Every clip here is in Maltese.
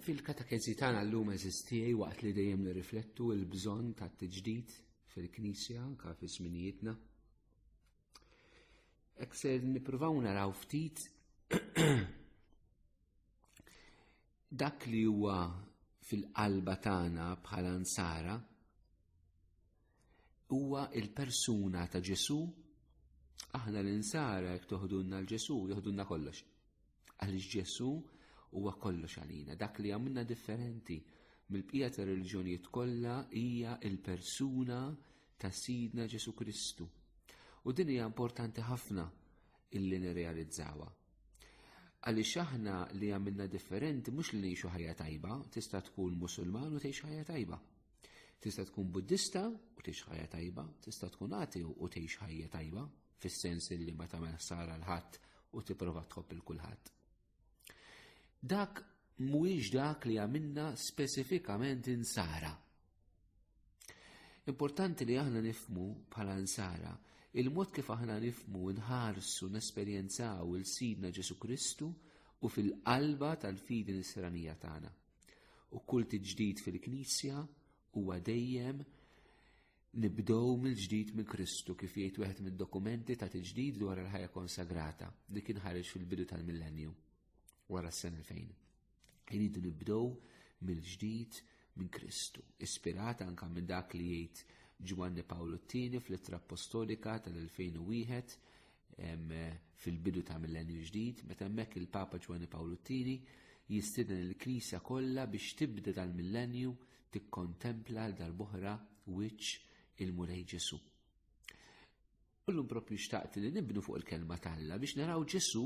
Fil-katakezi tagħna llum eżistijaj waqt li dejjem nirriflettu l-bżonn ta' tiġdid fil-Knisja anke fi żminijietna. Ek se nippruvaw naraw ftit dak li huwa fil-qalba tagħna bħala nsara huwa il-persuna ta' Ġesu, aħna l-insara jek toħdunna l-Ġesu, joħdunna kollox. Għaliex Ġesu huwa kollox għalina, dak li għamilna differenti mill-bqija ta' reliġjonijiet kollha hija il-persuna ta' Sidna Ġesu Kristu. U din hija importanti ħafna illi nirrealizzawa. Għaliex aħna li għamilna differenti mhux li ngħixu ħajja tajba, tista' tkun Musulman u tgħix ħajja tajba. Tista' tkun Buddista u tgħix ħajja tajba, tista' tkun ateu u tgħix ħajja tajba, fis-sens li ma tagħmel ħsara l-ħadd u tipprova tħobb il kulħadd. Dak mhuwiex dak li għamilna speċifikament insara. Importanti li aħna nifmu bħala insara il-mod kif aħna nifmu nħarsu nesperjenzaw il-Sidna Ġesu Kristu u fil-qalba tal-fidi nisranija tagħna. U kull tiġdid fil-Knisja huwa dejjem nibdow mill-ġdid minn Kristu kif jgħid wieħed mid-dokumenti ta' tiġdid dwar il-ħajja konsagrata li kien ħareġ fil-bidu tal-millenju wara s-sena 2000. Iridu nibdow mill-ġdid minn Kristu, ispirat anka minn dak li jgħid Ġwanni Pawlu t-tieni fl-ittra apostolika tal-2001 fil-bidu ta' mill-enju ġdid, meta hemmhekk il-Papa Ġwani Pawlu II jistieden il-Knisja kollha biex tibda dal-millenju tikkontempla għal darbohra wiċċ il-Mulej Ġesu. Ullum propju xtaqt li nibnu fuq il-kelma talla biex naraw Ġesu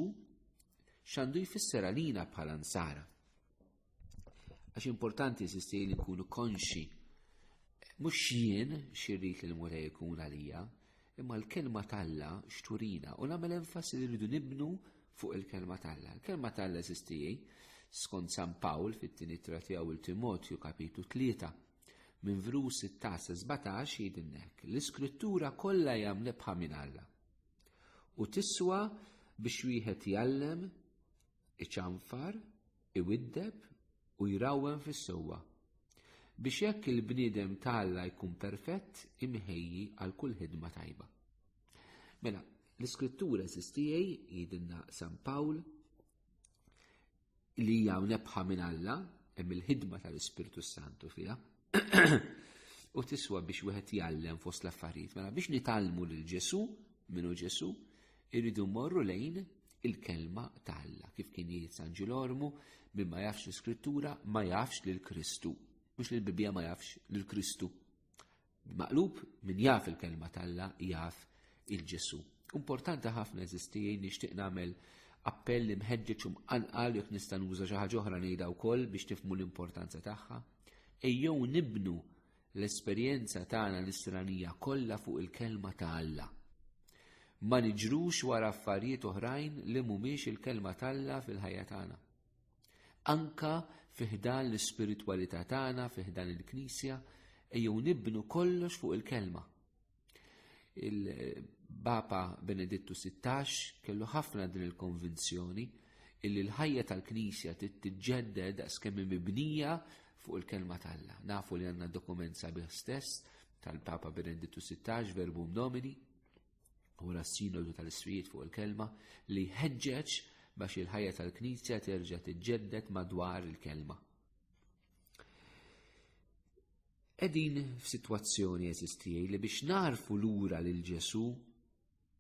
xandu jfisser għalina bħala nsara. Għax importanti sisti li nkunu konxi mhux jien xirrit li l-Mulej ikun għalija, imma l-kelma talla xturina u nagħmel enfasi li rridu nibnu fuq il-kelma talla. Il-kelma talla sistijaj, skont San Pawl fit-tieni tratija u l-Timotju kapitu 3 minn vrus 16-17 jidinnek l-iskrittura kollha jam lebħa minn Alla. U tiswa biex wieħed jallem iċanfar iwiddeb u jrawwem fis-sewwa, biex hekk il-bniedem ta' Alla jkun perfett imħejji għal kull ħidma tajba. Mela, l-iskrittura sistijaj jidinna San Pawl li hija nebħa minn Alla hemm il-ħidma tal-Ispirtu Santu fiha u tiswa biex wieħed jgħallem fost l-affarijiet. Mela biex nitgħallmu lil Ġesu, minu Ġesu, irridu morru lejn il-kelma ta' Alla. Kif kien jgħid San Ġilormu, min ma jafx l-iskrittura ma jafx lil Kristu. Mhux li l-Bibbja ma jafx lil Kristu. Maqlub min jaf il-kelma ta' Alla jaf il-Ġesu. Importanti ħafna eżistijin nixtieq nagħmel appell li mħeġġeġ u mqanqal jekk nista' nuża xi ħaġa oħra ngħidha wkoll biex tifmu l-importanza tagħha. Ejjew nibnu l-esperjenza tagħna nisranija kollha fuq il-Kelma ta' Alla. Ma niġrux wara affarijiet oħrajn li mhumiex il-Kelma ta' Alla fil-ħajja tagħna. Anka fi ħdan l-ispiritwalità tagħna, fi ħdan il-Knisja, ejjew nibnu kollox fuq il-Kelma. Il-Papa Benedittu 16 kellu ħafna din il-konvinzjoni illi l-ħajja tal-Knisja titġedded skemm mibnija fuq il-kelma tal-la. Nafu li għanna dokument sabiħ stess tal-Papa Benedittu 16 verbum nomini u s-sinodu tal-isfijiet fuq il-kelma li ħeġġeġ biex il-ħajja tal-Knisja terġa' tiġġedded madwar il-kelma. Qegħdin f'sitwazzjoni eżistijaj li biex narfu lura lil Ġesu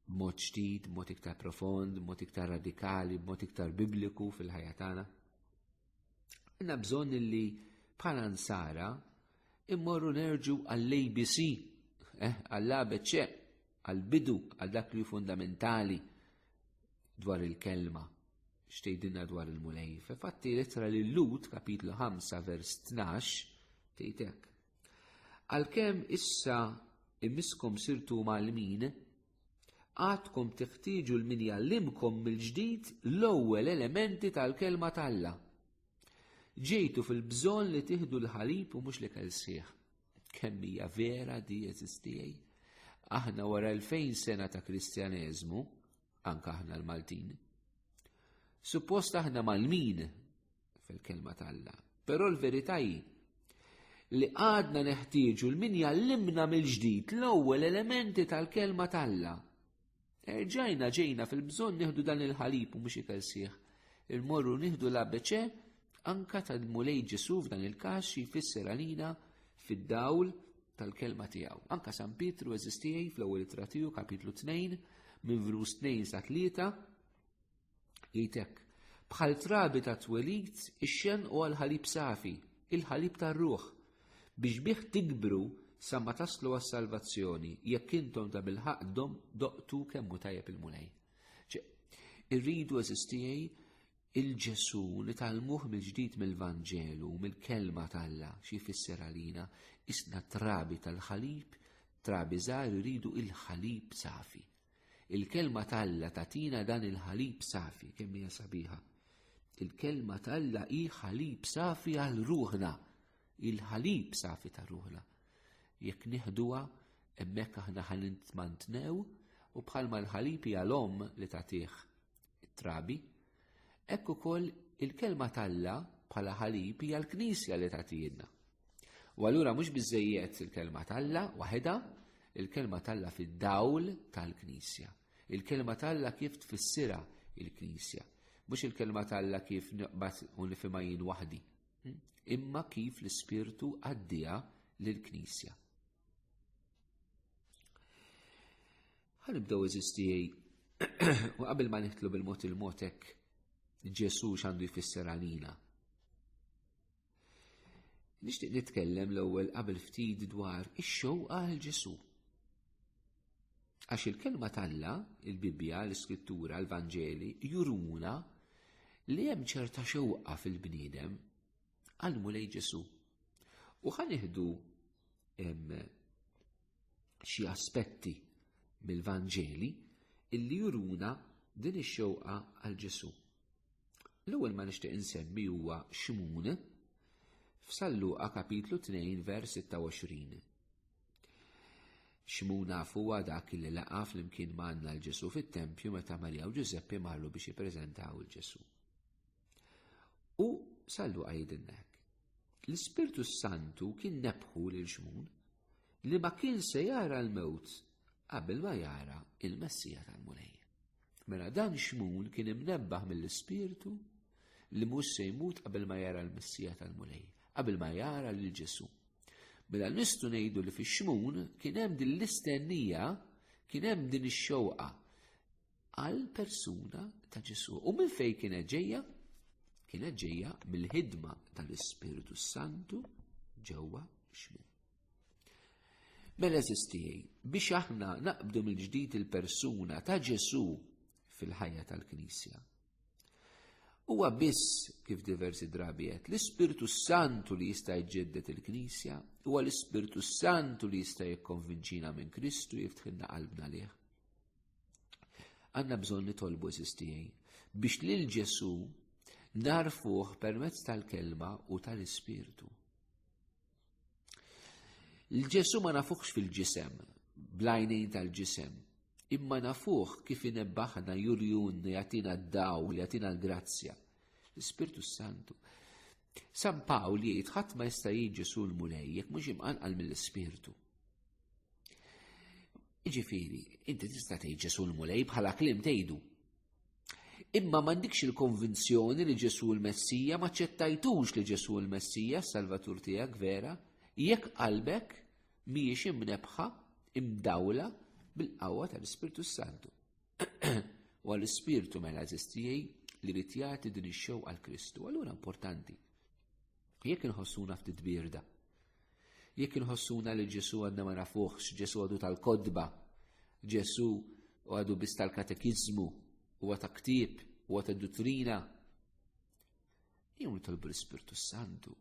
b'mod ġdid, b'mod iktar profond, b'mod iktar radikali, b'mod iktar bibliku fil-ħajja tagħna. Għandna bżonn li bħala nsara immorru nerġu għall-ABC, eh, għall-ABC, għall-bidu, għal dak li fundamentali dwar il-kelma xtejdinna dwar il-mulej. Fatti litra li l-lut, kapitlu 5, vers 12, tejtek. Għalkemm issa imiskom sirtu mal-min, għadkom teħtieġu l-min jallimkom mill-ġdid l-ewwel elementi tal-kelma tal-la. Ġejtu fil-bżon li tiħdu l-ħalib u mhux li kelsieħ. Kemm hija vera di eżistijaj? Aħna wara l-fejn sena ta' kristjaneżmu, anke aħna l-Maltin. Suppost aħna mal-min fil-kelma tal-la, però l-verità hi li għadna neħtieġu l-min jallimna mill-ġdid l-ewwel elementi tal-kelma tal-la. Erġajna ġejna fil-bżonn nieħdu dan il-ħalib u mhux ikel sieħ. Il-morru nieħdu l-ABC anka tal-Mulej Ġesu f'dan il-każ jfisser għalina fid-dawl tal-kelma tiegħu. Anka San Pietru eżistijaj fl-ewwel ittra tiegħu kapitlu 2 minn vrus 2 sa 3 jgħidek bħal trabi ta' twelid ix-xen u għal-ħalib safi, il-ħalib tar-ruħ, biex bih tikbru sa ma taslu għas-salvazzjoni jekk intom ta' bil-ħaq doqtu kemmu tajjeb il-mulej. Irridu eżistijaj Il-Ġesù nitgħallmuh mill-ġdid mill-Vanġelu, mill-Kelma t'Alla, xi jfisser għalina, isna trabi tal-ħalib, trabi żgħar iridu il-ħalib safi. Il-Kelma t'Alla tagħtina dan il-ħalib safi, kemm hija sabiħa. Il-Kelma t'Alla hi ħalib safi għal ruħna, il-ħalib safi ta' ruħna. Jekk nieħduha hemmhekk aħna ħalint mantnew u bħalma l-ħalib hija l-omm li tagħtih it-trabi. Hekk ukoll il-kelma t'Alla bħala ħalib hija l-Knisja li tagħtina. U allura mhux biżejjed il-kelma t'Alla waħedha, il-kelma t'Alla fid-dawl tal-Knisja. Il-kelma t'Alla kif tfissira il-Knisja. Mhux il-kelma t'Alla kif naqbad u nifhimha jien waħdi. Hm? Imma kif l-Ispirtu għaddija lill-Knisja. Ħanibdew eżisti u qabel ma nitlu bil-mod il-motek Ġesu x'għandu jfisser għalina. Nixtieq nitkellem l-ewwel qabel ftit dwar ix-xewqa għal Ġesu. Għax il-kelma talla, il-Bibbja, l-Iskrittura, l-Vanġeli, juruna li hemm ċerta xewqa fil-bniedem għal mulej Ġesu. U ħaniħdu hemm xi aspetti mill-Vanġeli illi juruna din ix-xewqa għal Ġesu. L-ewwel ma nixtieq insemmi huwa Xmun f'Salluqa kapitlu 2 vers 26. Xmun nafu huwa dak li laqa flimkien ma' għandna l-Ġesu fit-tempju meta Marija u Ġużeppi marru biex jippreżentaw il-Ġesu. U sallu għajdinnek. L-Ispirtu Santu kien nebħu lil xmun li ma kien se jara l-mewt qabel ma jara il-Messija tal-Mulej. Mela dan xmun kien imnebbaħ mill-Ispirtu li mhux se jmut qabel ma jara l-Messija tal-Mulej, qabel ma jara lil Ġesu. Mela nistu ngħidu li fix-xmun kien hemm din l-istennija, kien hemm din ix-xewqa għal persuna ta' Ġesu. U minn fej kienet ġejja? Kienet ġejja mill-ħidma tal-Ispirtu Santu ġewwa xmin. Mela eżistijaj, biex aħna naqbdu mill-ġdid il-persuna ta' Ġesu fil-ħajja tal-Knisja. Huwa biss kif diversi drabi qed l-Ispirtu Santu li jista' jġeddet il-Knisja, huwa l-Ispirtu Santu li jista' jikkonvinċina minn Kristu jiftħilna qalbna lih. Għanna bżon nitolbu eżistijaj biex lil Ġesu narfuħ permezz tal-kelma u tal-ispirtu. L-Ġesu ma nafuħx fil-ġisem, blajnejn tal-ġisem, imma nafuħ kif inebbaħna jurjun jatina d-daw, jatina l-grazzja. L-Spirtu Santu. San Pawl jgħid ħadd ma jista' jiġi sul mulej jekk mhux imqanqal mill-Ispirtu. Iġifiri, inti tista' tgħid Ġesu l-Mulej bħala klim tgħidu. Imma m'għandikx il-konvinzjoni li Ġesu l-Messija ma ċettajtux li Ġesu l-Messija salvatur tiegħek vera, jekk qalbek mhijiex imnebħa imdawla bil-qawwa tal-Ispirtu Santu. U għall-Ispirtu mela eżistijej li rrid jagħti din ix-xewqa għal Kristu, allura importanti Jekk inħossuna ftit birda, jekk inħossuna li Ġesu għadna ma nafuħx, Ġesu għadu tal-kodba, Ġesu għadu biss tal-katekizmu, u għata ktib, u għata duttrina, jew nitolbu l-Spirtu Santu,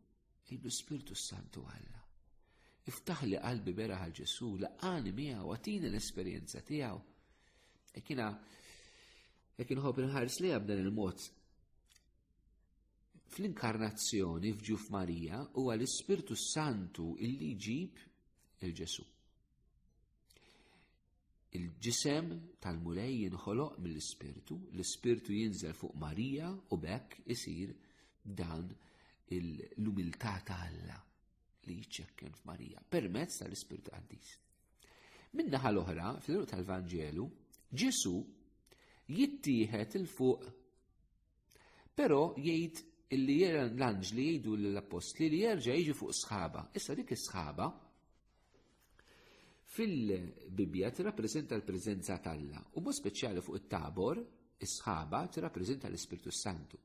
jibdu Spirtu Santu għalla. Iftaħ li qalbi bera għal Ġesu, laqani miegħu, għatina l-esperjenza tiegħu. Ekkina, jekk inħobb inħares li dan il-mod fl-inkarnazzjoni f'ġuf Marija huwa l-Ispirtu Santu illi jġib il-Ġesu. Il-ġisem tal-Mulej jinħoloq mill-Ispirtu, l-Ispirtu jinżel fuq Marija u bekk isir dan l-umiltà ta' Alla li jċekken f'Marija permezz tal-Ispirtu Qaddis. Minnaħa l-oħra, fl-eruq tal-Vanġelu, Ġesu jittieħed il-fuq Però jgħid illi jera l-anġli jgħidu l-apostli li jerġa' jiġu fuq sħaba. Issa dik is-sħaba fil-Bibbja tirrappreżenta l-preżenza t'Alla u mod speċjali fuq it-tabor is-sħaba tirrappreżenta l-Ispirtu Santu.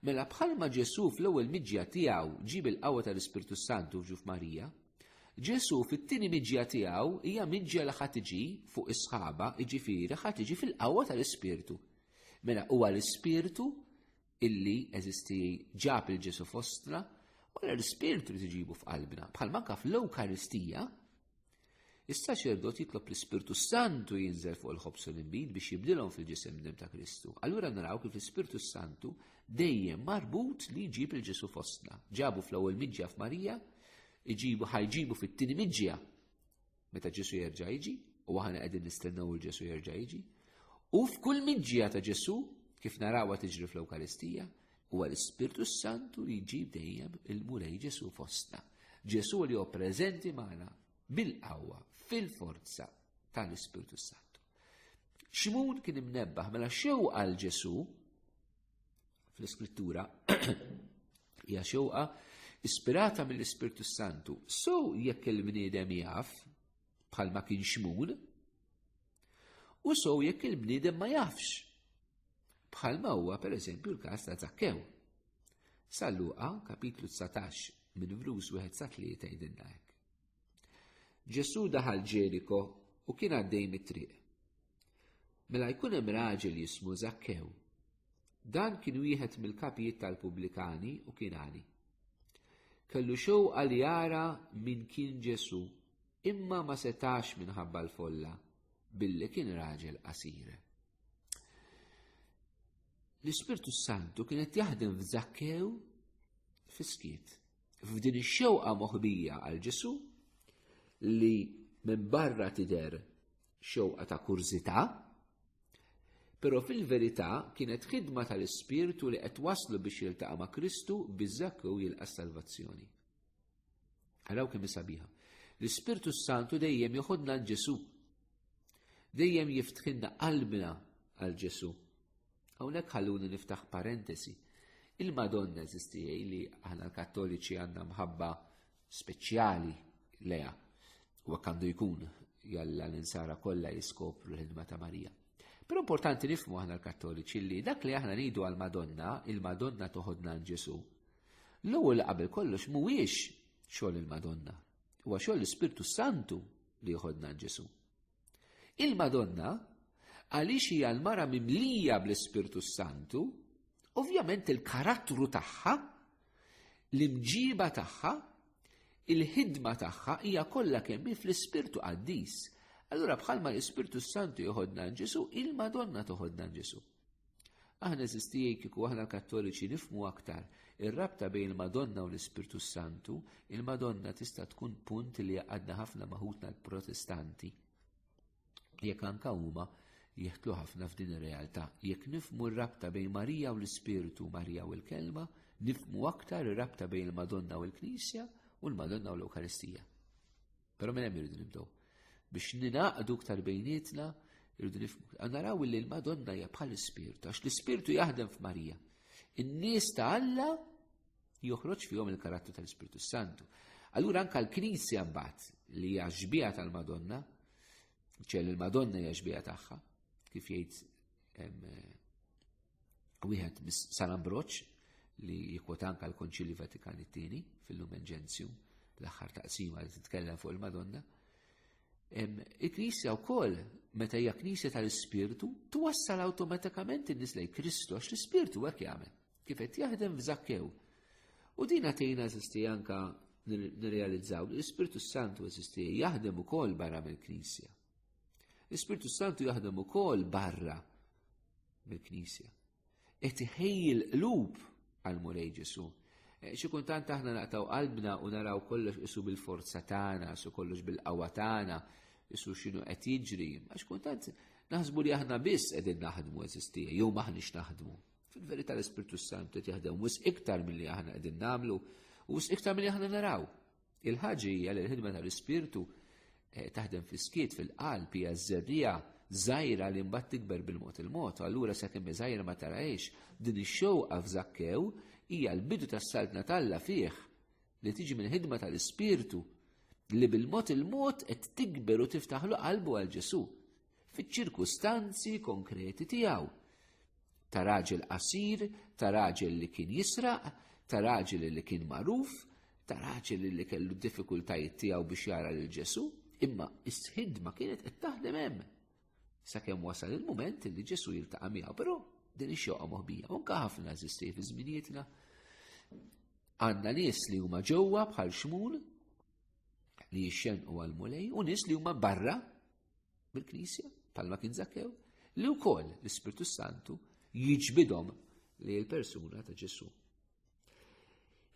Mela bħalma Ġesu fl-ewwel miġja tiegħu ġib il-qawwa tal-Ispirtu Santu f'ġuf Marija, Ġesu fit-tieni miġja tiegħu hija miġja li ħadd iġi fuq is-sħaba, iġifieri ħadd iġi fil-qawwa tal-Ispirtu. Mela huwa l-ispirtu illi eżisti ġab il-Ġesu fostra, u l-ispirtu li tiġibu f'qalbna. Bħal manka fl-Ewkaristija, issa xerdot jitlob l-Ispirtu Santu jinżel fuq il-ħobsu l-imbid biex jibdilhom fil-ġisem dem ta' Kristu. Allura naraw kif l-Ispirtu Santu dejjem marbut li jġib il-Ġesu fostna. Ġabu fl-ewwel miġja f'Marija, iġibu ħajġibu fit-tieni miġja meta Ġesu jerġa' jiġi, u aħna qegħdin nistennew il Ġesu jerġa' jiġi, u f'kull miġġija ta' Ġesu, kif narawha tiġri fl-Ewkaristija, huwa l-Ispirtu Santu li jġib dejjem il-Mulej Ġesu fostna. Ġesu li hu preżenti magħna bil-qawwa, fil-forza tal-Ispirtu Santu. Ximon kien imnebbaħ mela xew għal Ġesu fl-iskrittura Hija xewqa ispirata mill-Ispirtu Santu. So jekk il-bniedem jaf bħal ma kien xmun, u so jekk il-bniedem ma jafx bħal ma huwa per eżempju l-kas ta' Zakkew. Salluqa, kapitlu 19, minn vrus wieħed sa tlieta jidinna hekk. Ġesu daħal Ġeriko u kien għaddej mit-triq. Mela jkun hemm raġel jismu Zakkew Dan kien wieħed mill-kapijiet tal-Pubblikani u kien għani. Kellu xewqa li jara min kien Ġesu, imma ma setax minħabba l-folla, billi kien raġel qasir. L-Ispirtu Santu kien qed jaħdem f'Zakkew fiskiet. F'din ix-xewqa moħbija għal Ġesu li minn barra tidher xewqa ta' kurżità, però fil-verità kienet ħidma tal-Ispirtu li qed waslu biex jiltaqa' ma' Kristu biex Zakkew jilqa' salvazzjoni. Araw kemm sabiħa. L-Ispirtu Santu dejjem joħodna għal Ġesu. Dejjem jiftħinna qalbna għal Ġesu. Hawnhekk ħalluni niftaħ parentesi. Il-Madonna eżistijaj li aħna l-Kattoliċi għandna mħabba speċjali leja u għandu jkun jalla l-insara kollha jiskopru l-ħidma ta' Marija. Però importanti nifmu aħna l-Kattoliċi li dak li aħna nidu għal Madonna, il-Madonna toħodna għal Ġesu. L-ewwel qabel kollox mhuwiex xogħol il-Madonna, huwa xogħol l-Ispirtu Santu li joħodna għal Ġesu. Il-Madonna, għaliex hija l-mara mimlija bl-Ispirtu Santu, ovvjament il-karattru tagħha, l-imġiba tagħha, il-ħidma tagħha hija kollha kemm fl-Ispirtu Qaddis. Allura bħalma l-Ispirtu Santu joħodna Ġesu, il-Madonna toħodna Ġesu. Aħna eżistijej kiku aħna kattoliċi nifmu aktar ir-rabta bejn il-Madonna u l-Ispirtu Santu, il-Madonna tista' tkun punt li jaqadna ħafna maħutna l-Protestanti. Jekk anka huma jeħtlu ħafna f'din ir-realtà. Jekk nifmu r-rabta bejn Marija u l-Ispirtu, Marija u l-Kelma, nifmu aktar ir-rabta bejn il-Madonna u l-Knisja u l-Madonna u l-Ewkaristija. Però minn hemm irridu nibdew. Biex ninaqdu ktar bejnietna, irridu nifmu. Naraw li l-Madonna hija bħal ispirtu għax l-ispirtu jaħdem f'Marija. In-nies ta' Alla joħroġ fihom il-karattru tal-Ispirtu Santu. Allura anka l-Knisja mbagħad li hija xbija tal-Madonna, ċel il-Madonna hija xbija tagħha, kif jgħid wieħed mis San Ambroċ li jikwota anka l-Konċilju Vatikan it-tieni fil-Lumen Gentium l-aħħar taqsima li titkellem fuq il-Madonna. Il-Knisja wkoll meta hija Knisja tal-Ispirtu twassal awtomatikament in-nies lejn Kristu għax l-Ispirtu hekk jagħmel kif qed jaħdem f'Zakkew. U din għatejna eżisti anka nirrealizzaw li l-Ispirtu Santu eżisti jaħdem ukoll barra mill-Knisja. L-Ispirtu Santu jaħdem ukoll barra mill-Knisja. Qed iħejji l-qlub għal Mulej Ġesu. Eh, xi kultant aħna naqtaw qalbna u naraw kollox isu bil-forza tagħna, isu kollox bil-qawwa tagħna, isu x'inhu qed jiġri, għax kultant naħsbu li aħna biss qegħdin naħdmu eżistija, jew maħniex naħdmu. Fil-verità l-Ispirtu Santu qed jaħdem wis iktar milli aħna qegħdin nagħmlu u wis iktar milli aħna naraw. Il-ħaġa hija li l-ħidma tal-Ispirtu eh, taħdem fis-skiet fil-qalb hija żerrija żgħira li mbagħad tikber bil-mod il-mod, allura sakemm żgħira ma tarajx din ix-xewqa f'żakkew hija l-bidu tas-saltna talla fih li tiġi mill-ħidma tal-Ispirtu li bil-mod il-mod qed tikber u tiftaħlu qalbu għal Ġesu. fiċ-ċirkustanzi konkreti tiegħu. Ta' raġel qasir, ta' raġel li kien jisraq, ta' raġel li kien magħruf, ta' raġel li kellu diffikultajiet tiegħu biex jara lil Ġesu, imma is-sħid ma kienet qed taħdem hemm. Sakemm wasal il-mument li Ġesu jiltaqa' miegħu, però din ix-xoqa moħbija. Unka ħafna eżisti fi żminijietna. Għandna nies li huma ġewwa bħal xmun li jixxenqu għal mulej u nies li huma barra bil-Knisja, palma kien Zakkew, li wkoll l-Ispirtu Santu jiġbidhom li l-persuna ta' Ġesu.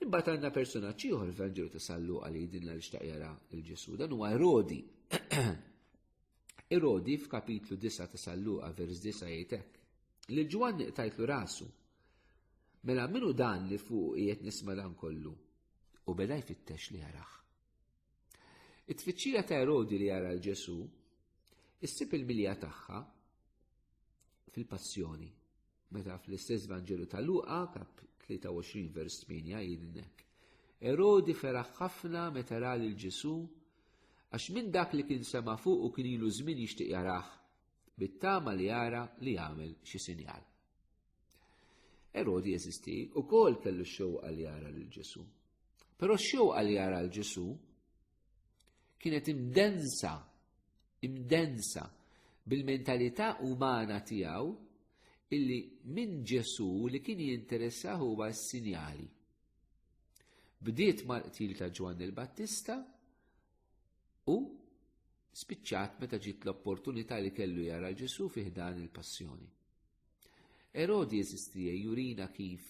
Imbagħad għandna persuna ċieħor l-Vanġelu ta' Sallu għal jidinna li xtaq jara l-Ġesu, dan huwa Erodi. Erodi f'kapitlu 9 ta' Sallu vers 9 jgħidek li Ġwanni qtajtlu rasu. Mela minu dan li fuq qiegħed nisma' dan kollu u beda jfittex li jaraħ. It-tfittxija ta' Erodi li jara l-Ġesu issib il-milja tagħha fil-passjoni. Meta fl-istess Vanġelu ta' Luqa, kap 23 vers 8 jidnek. Erodi feraħ ħafna meta ra lil Ġesu għax minn dak li kien sema fuq u kien ilu żmien jixtieq jarah bit-tama li jara li jagħmel xi sinjal. Erodi jeżisti u kol kellu xewqa li jara lil Ġesu. Però xewqa li jara l Ġesu kienet imdensa, imdensa bil-mentalità umana tiegħu illi minn Ġesu li kien jinteressa huwa s-sinjali. Bdiet mal-qtil ta' Ġwann il-Battista u spiċċat meta ġiet l-opportunità li kellu jara l Ġesu fih dan il-passjoni. Erodi eżistija jurina kif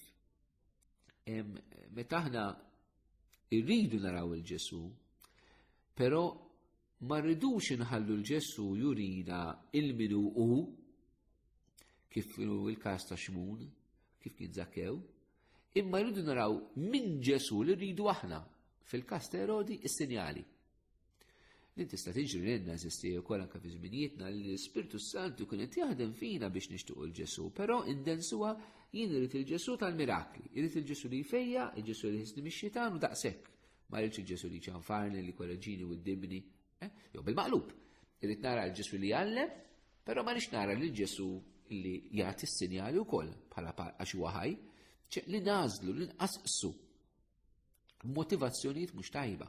meta aħna irridu naraw il-Ġesu, però ma rridux inħallu l-Ġesu jurina il-minu u kif il-kas ta' xmun, kif kien zakkew, imma rridu naraw minn Ġesu li rridu aħna fil-kas ta' Erodi is-sinjali. Din tista' tiġri lilna eżisti wkoll anke fi żminijietna li l-Ispirtu Santu kien qed jaħdem fina biex nixtuqu l-Ġesu, però indensuha jien irid il-Ġesu tal-mirakli, irid il-Ġesu li jfejja, il-Ġesu li jħissni mix-xitan u daqshekk. Ma rridx il-Ġesu li ċanfarni, li korreġini u ddibni. Eh? Jew bil-maqlub, irid nara l-Ġesu li jgħallem, però ma rridx nara lil Ġesu li jagħti s-sinjali wkoll bħala għax huwa ħaj, li nażlu, li nqasqsu motivazzjonijiet mhux tajba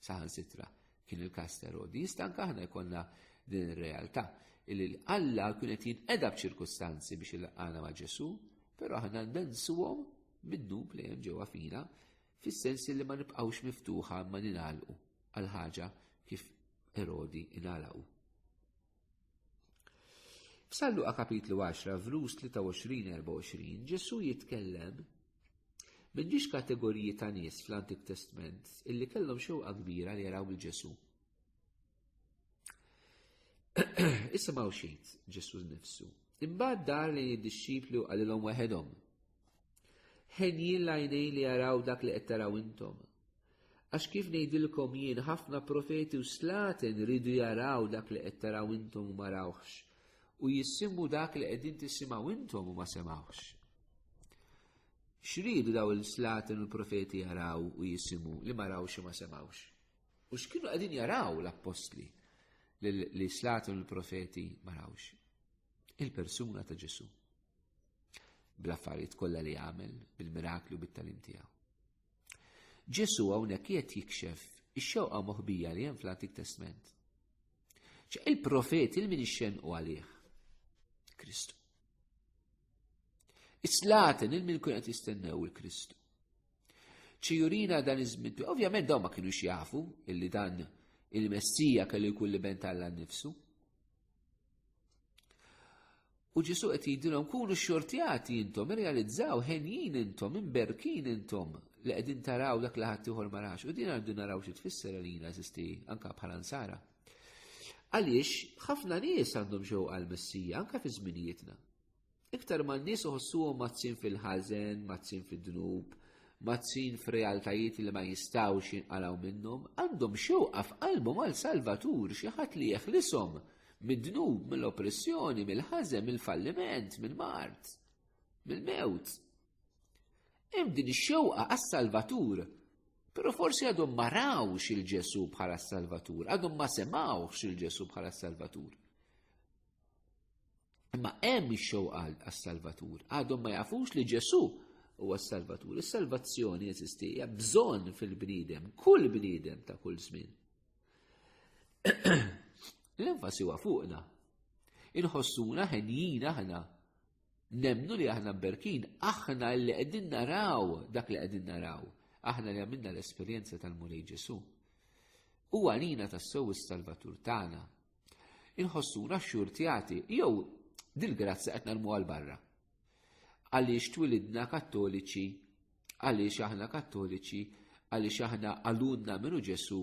saħan sitra kien il-kas ta' Rodi. Jista' anke aħna jkollna din ir-realtà li Alla kien qed jinqeda b'ċirkustanzi biex il-qana ma' Ġesu, però aħna nensuhom minnu li hemm ġewwa fina fis-sens li ma nibqgħux miftuħa ma ningħalqu għal ħaġa kif Erodi ingħalaqu. Salluqa kapitlu 10, vrus 23-24, Ġesu jitkellem minn ġiex kategoriji ta' nies fl-Antik Testment illi kellhom xewqa kbira li jaraw bil Ġesu. Issa ma' xejt Ġesu nifsu. Imbagħad dar li jiddixxipli u qalilhom weħedhom. Ħenjin lajnej li jaraw dak li qed taraw intom. Għax kif ngħidilkom jien ħafna profeti u slaten ridu jaraw dak li qed taraw intom u ma rawhx, u jissimu dak li qegħdin tisimgħu intom u ma semawx. X'ridu daw il-slaten u l-profeti jaraw u jisimu li ma rawx u ma semawx? U x'kienu qegħdin jaraw l-appostli li slaten u l-profeti ma rawx? Il-persuna ta' Ġesu. Bl-affarijiet kollha li għamel, bil-mirakli u bit-talim tiegħu. Ġesu hawnhekk qiegħed jikxef ix-xewqa moħbija li hemm fl-Antik Testment. Ċe il-profet il-min ixxenqu għalih. Kristu. Islaten il-min kun qed jistennew il-Kristu. Ċi jurina dan iż-żmien, ovvjament dawn ma kienux jafu illi dan il-Messija kellu jkun li bent Alla nnifsu. U ġisu qed jgħidilhom kunu xortjati intom, irrealizzaw ħenjin intom, imberkin intom li qegħdin taraw dak li ħadd ieħor ma rax. U din għandu naraw xi tfisser għalina eżisti anke bħala nsara. Għaliex ħafna nies għandhom xewqa għall-Messija anke fi żminijietna. Iktar ma n-nies uħossuhom mazzin fil-ħażen, mazzin fid-dnub, mazzin f'realtajiet li ma jistgħux jinqalgħu minnhom, għandhom xewqa f'qalbhom għal Salvatur xi ħadd li jeħlishom mid-dnub, mill-oppressjoni, mill-ħażen, mill-falliment, mill-mard, mill-mewt. Hemm din ix-xewqa għas-Salvatur, però forsi għadhom ma rawx il-Ġesu bħala s-Salvatur, għadhom ma semawx il-Ġesu bħala s-Salvatur. Imma hemm ix-xewqa għas-Salvatur, għadhom ma jafux li Ġesù huwa s-Salvatur. Is-salvazzjoni eżisti hija bżonn fil-bniedem, kull bniedem ta' kull żmien. L-enfasi huwa fuqna. Inħossuna ħenjin aħna. Nemnu li aħna berkin, aħna li qegħdin naraw dak li qegħdin naraw. Aħna li għamilna l-esperjenza tal-Mulej Ġesu. U għalina tas-sew is-Salvatur tagħna Inħossuna xxurtjati jew dil-grazzja qed narmu għal barra. Għaliex twilidna kattoliċi, għaliex aħna kattoliċi, għaliex aħna għalunna minu Ġesu,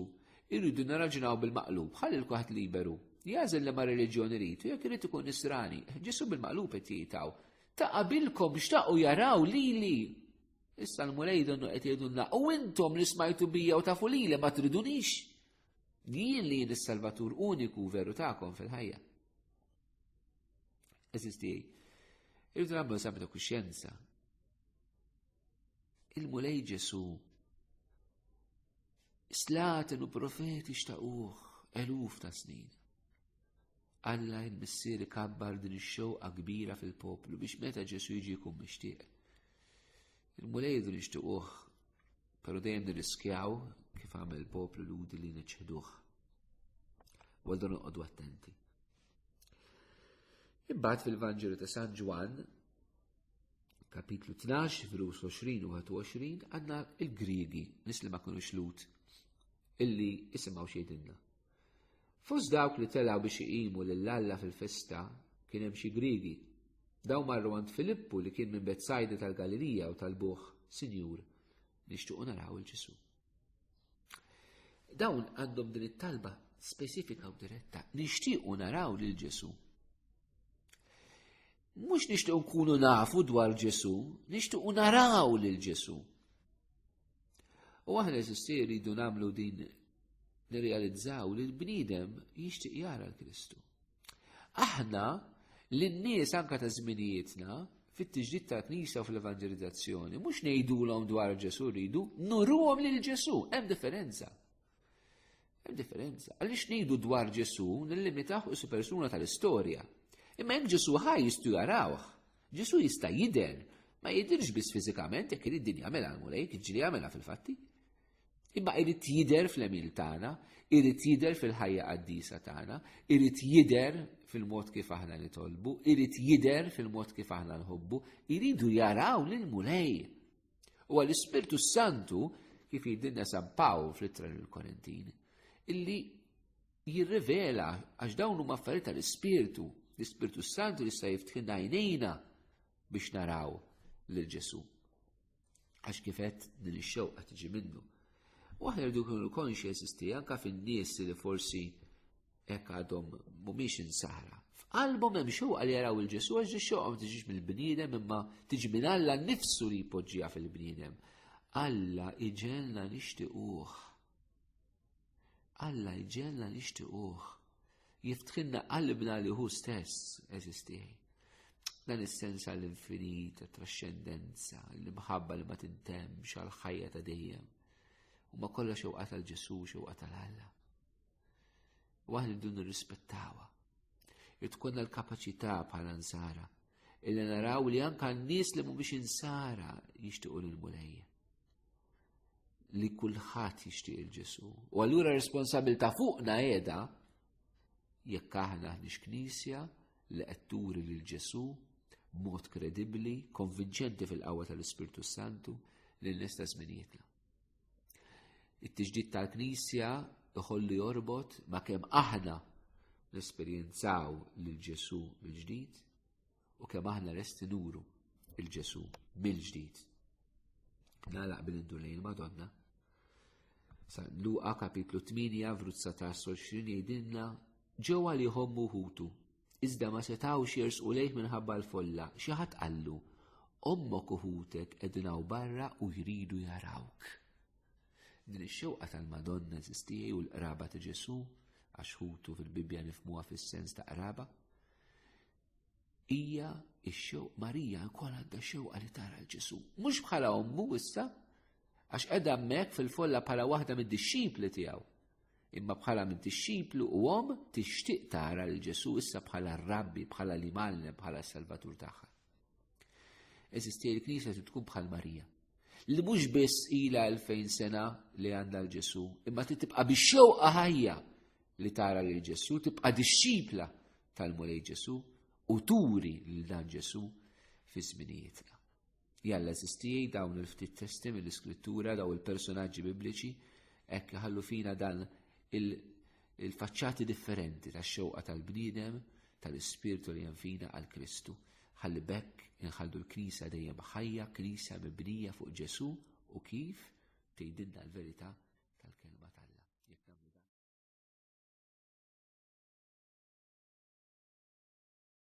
irridu naraġunaw bil-maqlub, ħalli l-kuħat liberu. Jażel li ma reliġjoni rritu, jekk irid ikun nisrani, Ġesu bil-maqlub qed jitaw. Ta' qabilkom xtaqu jaraw li li. Issa l-mulej donnu qed jgħidulna u intom li smajtu bija u tafu li ma tridunix. Jien li jien is-Salvatur uniku veru tagħkom fil-ħajja. Eżisti tiegħi. Irridu nagħmlu eżami ta' kuxjenza. Il-Mulej Ġesu slaten u profeti xtaquh eluf ta' snin. Alla il-missir kabbar din ix-xewqa kbira fil-poplu biex meta Ġesu jiġi jkun mixtieq. Il-Mulej din ixtiquh Pero dejjem nirriskjaw kif għamel poplu ludi li neċħduħ. Għaldu noqogħdu attenti. Imbagħad fil-Vanġelu ta' San Ġwan, kapitlu 12, virus 20 u 21, għandna il-Griegi, nis li ma kienu xlut, illi jisimaw xejdinna. Fost dawk li telgħu biex iqimu lil Alla fil-festa kien hemm xi Griegi. Dawn marru għand Filippu li kien minn Betsajda tal-Galilija u talbuh, Sinjur, nixtiequ naraw il-Ġesu. Dawn għandhom din it-talba speċifika u diretta, nixtiequ naraw lil Ġesu. Mhux nixtiequ nkunu nafu dwar Ġesu, nixtiequ naraw lil Ġesu. U aħna eżisti rridu nagħmlu din nirrealizzaw li l-bniedem jixtieq jara l-Kristu. Aħna l-nies anka ta' żminijietna fit-tiġdid tal-Knisja u fl-evanġelizzazzjoni, mhux ngħidulhom dwar Ġesu rridu, nuruhom lil Ġesu, hemm differenza. Hemm differenza. Għaliex ngħidu dwar Ġesu nillimitaw is persuna tal-istorja. Imma jekk Ġesu ħaj jistgħu jarawh. Ġesu jista' jidher, ma jidirx biss fiżikament jekk irid din jagħmilha l-Mulej, ġili jagħmilha fil-fatti. Imma irid jidher fl-emil tagħna, irid jidher fil-ħajja qaddisa tagħna, irid jidher fil-mod kif aħna nitolbu, irid jidher fil-mod kif aħna nħobbu, iridu jaraw lil Mulej. U għall-Ispirtu Santu, kif jidinna San Pawl fl-ittra l-Korintin, illi jirrivela għax dawn huma affarijiet tal-Ispirtu, l-Ispirtu Santu li jista' jiftħin għajnejna biex naraw lil Ġesu. Għax kifet din ix-xewqa tiġi minnu. U aħna rridu kunu konxi jeżisti anka fin-nies li forsi Hekk għadhom mhumiex insara. F'qalbhom hemm xewqa li jaraw il-Ġesu għax ġi xewqa ma tiġix mill-bniedem imma tiġi minn Alla nnifsu li jpoġġiha fil-bniedem. Alla iġelna nixtiquh. Alla iġelna nixtiquh. Jiftħinna qalbna li hu stess eżistieħi. Dan is-sens għall-infinit, għat-trascendenza, l-imħabba li ma tintemx għal ħajja ta' dejjem. U ma kollha xewqa tal-Ġesu, xewqa tal-Alla. Waħda li dun nirrispettawha. Li tkun l-kapaċità bħala nsara illi naraw li anka n-nies li mhumiex insara jixtiequ lil mulejja li kulħadd jixtieq il-Ġesu. U allura responsabilità fuqna qiegħda jekk aħna aħniex knisja li qed turi lil Ġesu b'mod kredibbli, konvinċenti fil-qawwa tal-Ispirtu Santu lil nista' żminijietna. It-tiġdid tal-Knisja iħollu jorbot ma' kemm aħna nesperjenzaw lil Ġesu mill-ġdid u kemm aħna resti nuru il-Ġesu mill-ġdid. Nalaq bil indur lejn Madonna. Sa Luqa kapitlu 8 vruzza ta' 20 jgħidilna ġewwa li jħommu ħutu Iżda ma setgħux jersqu lejh minħabba l-folla, xi ħadd qallu, Ommok u ħutek qegħdin hawn barra u jridu jarawk. Din ix-xewqa tal-Madonna eżistijaj u l-qraba ta' Ġesu, għax ħutu fil-Bibbja nifmuha fis-sens ta' qraba, hija x-xew Marija wkoll għandha xewqa li tara l-Ġesu. Mhux bħala ommu issa, għax qiegħda hemmhekk fil-folla bħala waħda mid-dixxipli tiegħu. Imma bħala minn tixxiplu u om tixtieq tara lil Ġesu issa bħala r-Rabbi, bħala li mallem, bħala s-Salvatur tagħha. Eżisti l-Knisja trid tkun bħal Marija. Li mhux biss ilha 2000 sena li għandha l-Ġesu, imma trid tibqa' biex xewqa ħajja li tara lil Ġesu, tibqa' dixxipla tal-Mulej Ġesu u turi lil dan Ġesu fi żminijietna. Jalla zistijaj dawn il-ftit testi mill-iskrittura daw il-personaġġi bibliċi hekk iħallu fina dan il-faċċati differenti tax-xewqa tal-bniedem tal-ispirtu li hemm fina għal Kristu. Ħalli bekk inħallu l-Knisja dejjem ħajja, Knisja mibnija fuq Ġesu u kif tgħidilna l-verità tal-kelma tal-la.